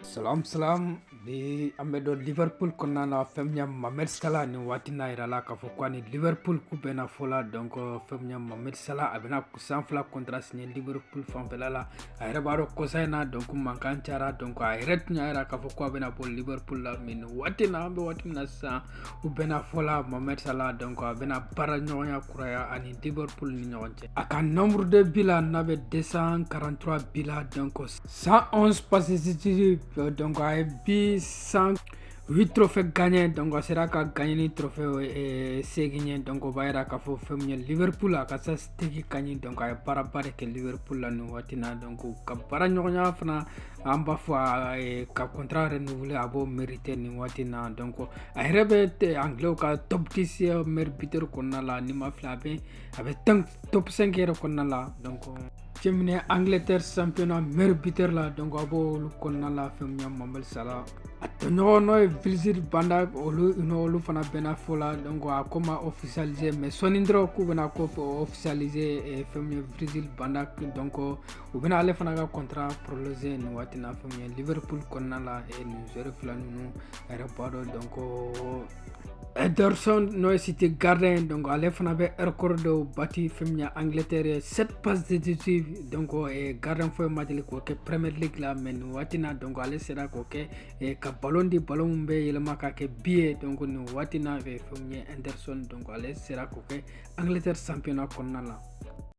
Salam salam bi an bɛ don Liverpool kɔnɔna la fɛn min ye Mohamed Salah nin waati na a yirala k'a fɔ ko a ni Liverpool k'u bɛnna fɔ la donc fɛn min ye Mohamed Salah a bɛna san fila contrat signer Liverpool fanfɛla la a yɛrɛ b'a dɔn kɔsa in na donc mankan cayara donc a yɛrɛ tun y'a yira k'a fɔ ko a bɛna bɔ Liverpool la mais nin waati in na an bɛ waati min na sisan u bɛnna fɔ la Mohamed Salah donc a bɛna baara ɲɔgɔnya kuraya a ni Liverpool ni ɲɔgɔn cɛ a ka nombre de bi la n'a bɛ 243 bi la donc 111 passes décisives donc a ye bi san huit trophée gagné donc a sera ka gagné ni trophée eh, seegin ye donc o b'a yira k'a fɔ fɛn min ye liverpool a ka statistique ka ɲi donc a ye baaraba de kɛ liverpool la nin waati na donc ka baara ɲɔgɔnya fana an b'a fɔ a ka contrat renouvelé a b'o mérité nin waati na donc a yɛrɛ bɛ anglais ka top 10 meilleur buteur kɔnɔna la ni n ma fili a bɛ a bɛ top 5 yɛrɛ kɔnɔna la donc cɛ min ye angleterre championnat meilleur buteur la donc a b'olu kɔnɔna la fɛn min ye Mohamed Salah a tɔɲɔgɔn n'o ye Virgil van Dijk olu n'olu fana bɛnna fɔ la donc a ko ma officialisé mais sɔnni dɔrɔn k'u bɛna ko officialisé eh, fɛn min ye Virgil van Dijk donc u bɛna ale fana ka contrat prolongé nin waati na fɛn min ye liverpool kɔnɔna la eh, nin joueur fila ninnu a yɛrɛ b'a dɔn donc Ederson n'o ye City gardien donc ale fana bɛ record dɔw bati fɛn min ye Angleterre 7 passes décisives donc eh, gardien foyi ma deli k'o kɛ Premier League la mais nin waati na donc ale sera k'o kɛ eh, ka ballon di ballon min bɛ yɛlɛma ka kɛ bi ye donc nin waati na eh, fɛn min ye Ederson donc ale sera k'o kɛ Angleterre championnat kɔnɔna la.